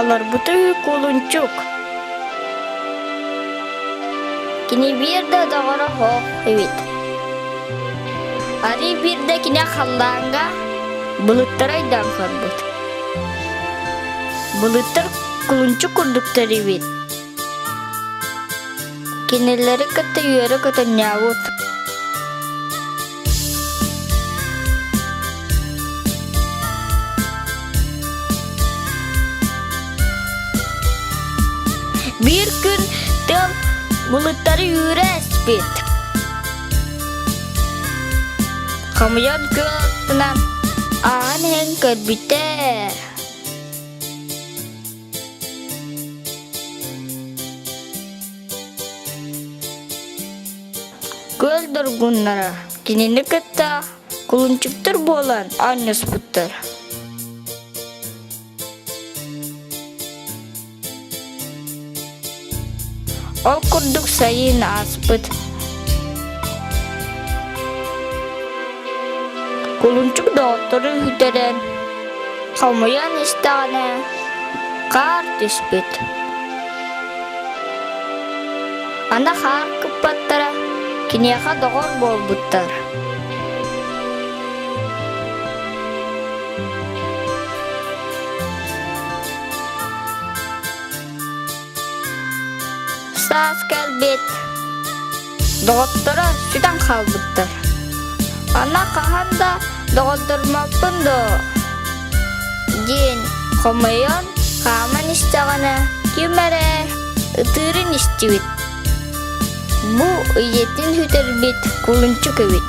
Олорбутуй, кулунчук. Кини биирдэ доҕоро хоох эбит. Арый биирдэ кини халлаанга былыттары айдаан көрбүт. Былыттар кулунчук курдуктар эбит. Кинилэри кытта үөрэ көтөнньөөбүт Биир күн тыал булуттары үүрэ эспит. Хамыйан кыаҕынан ааһан иһэн көрбүтэ Көр доргуннара кинини кытта кулунчуктар буолан анньыспыттар. Ол курдук сайын ааспыт кулунчук доҕоттору үтэрэн хомуйан истэҕинэ хаар түспүт. Аны хаар кыппаттара киниэхэ доҕор буолбуттар. Саас кэлбит. Доҕотторо сүтэн хаалбыттар. Аны хаһан да доҕотторуммаппын доо диэн хомойон хааман истэҕинэ ким эрэ ытыырын истибит. Бу ийэтин сүтэрбит кулунчук эбит.